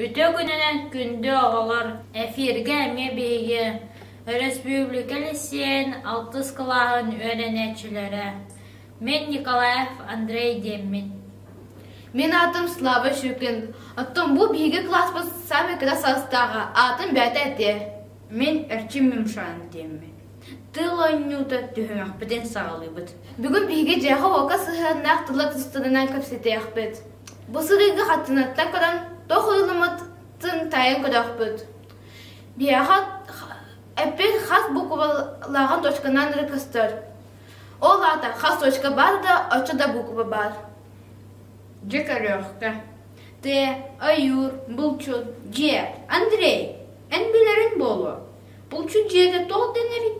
Үтө күнүнэн күндү оҕолор! Эфиргэ эмиэ биһиги өрөспүүбүлүкэ лиссиэйин алтыс кылааһын үөрэнээччилэрэ мен Николаев Андрей диэммит. Мен аатым Слава Щукин. Оттон бу биһиги кылааспыт самый кыра саастааҕа аатын бээтэ этэ. Мен Эрчим Мемшан диэммит. Тыл оонньуута түһүмэхпитин саҕалыыбыт. Бүгүн биһиги дьээхэ-уока сыһыаннаах тыла тустарынан кэпсэтиэхпит. Бу сырыыга хаттынаттан көрөн, туох ылыммытын тайан көрөхпүт. Биһиэхэ эппин хас буквалааҕын точканан эрэ көстөр. Ол аата хас точка баар да, оччо да буква баар. Дьэ көрүөхтэ. Ты, Айыр, Булчут, Дьиэ, Андрей, эн билэрин буолуо. Булчут дьиэтэ туох дэнэрий?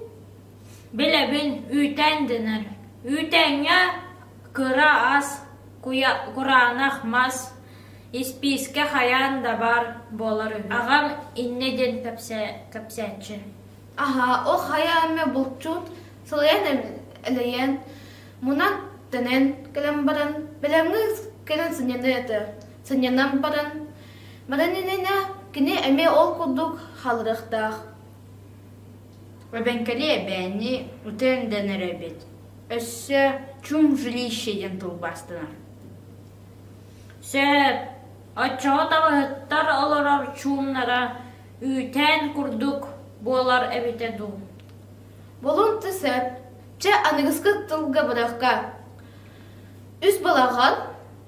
Билэбин, үүтээн дэнэр. Үүтээҥҥэ кыра ас, куйа, кураанах мас, испиискэ хайаан да баар буолар үһү. Аҕам иннэ диэн кэпсээ, кэпсээччи. Аһа, ол хайа эмэ булчут сылайан элэйэн, мунах дэнэн кэлэн баран, бэлэмҥэ кэлэн сынньана этэ. Сынньанан баран, Баранинена кини эмиэ ол курдук халырыахтаах Эбэҥкэли эбээнни утен дэнэр эбит Өссө чум жилище диэн тылбаастанар Сөп Оччоҕо таҕыһыттар олорор чуумнара үүтээн курдук буолар эбитэ дуу Болун ты сөп Чэ аныгыскы тылга бырахка Үс балаҕан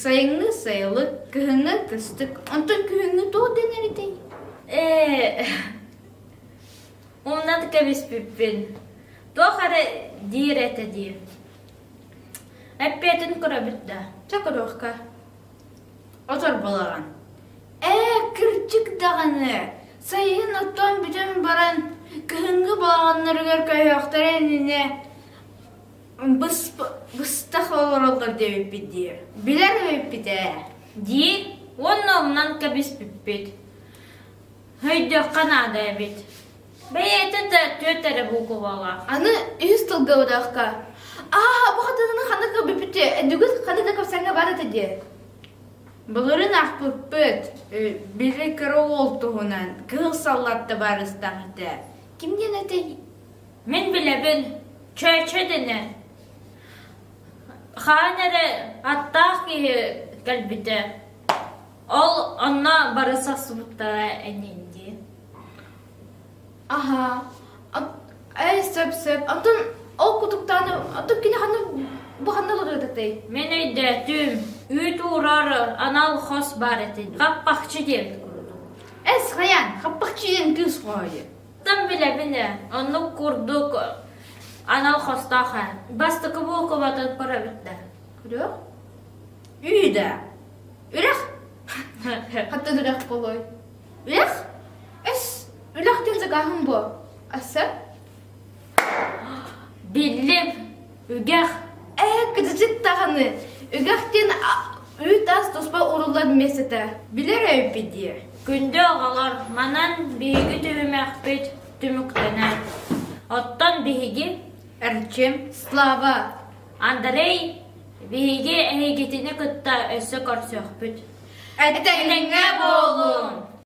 Сайыҥҥы сайылык, кыһыҥҥы кыстык. Онтон күһүҥҥү туох дэнэр этэй? Ээ, оннан кэбиспиппин. Туох эрэ диир этэ дии. Эппиэтин көрөбүт да. Чэ көрүөххэ. Отор балаҕан. Ээ, кырдьык даҕаны. Сайын оттон бүтэн баран, кыһыҥҥы балаҕаннарыгар көйөхтөрө иннинэ быстах олороллор диэбиппит дии билэр үһүппит ээ дии уонна умнан кэбиспиппит өйдүөххэ наада эбит бэйэтэ да түөт эрэ буукубаҕа аны үһүс тылга одоохко аа бу хатыны ханна көрбүппүт бүгүн ханна да көрсөҥҥө бар этэ диэ былырын ахпыппыт били кыра уол туһунан кыыл саллатта баарыстаах этэ ким диэн этэй Мин билэбин, Чөөчө дэнэ хаан эрэ аттаах киһи кэлбитэ, ол онно бара сахсыбыттара энин дии Аһаа, ээ сөп-сөп, оттон ол кутуктааны оттон кини ханна бу ханна олоруодатай? Мин өйдөөтүм, үүт уурар анал хос баар этин, хаппахчы диэн курдук. Эс, хайаан, хаппахчы диэн кыыс хоһойо Тым билэбин ээ, оннук курдук анал хостоох ээ. Бастакы буукубатын көрөбүттэр. Үрэх? Үйдэ. Үрэх? Хатта үрэх болой. Үрэх? Эс, үрэх диэн дагааһын бу. Асса? Биллим, үгэх, ээ кырдьык даҕаны, үгэх диэн үүт-ас туспа уруллан эмиэ сыта, билэр эбиппит дии. Күндү оҕолор, манан биһиги түһүмэхпит түмүктэнэр. Оттон биһиги Эрчим, Слава, Андрей биһиги эһигитини кытта өссө көрсүөхпүт. Эттэҥҥэ буолуҥ!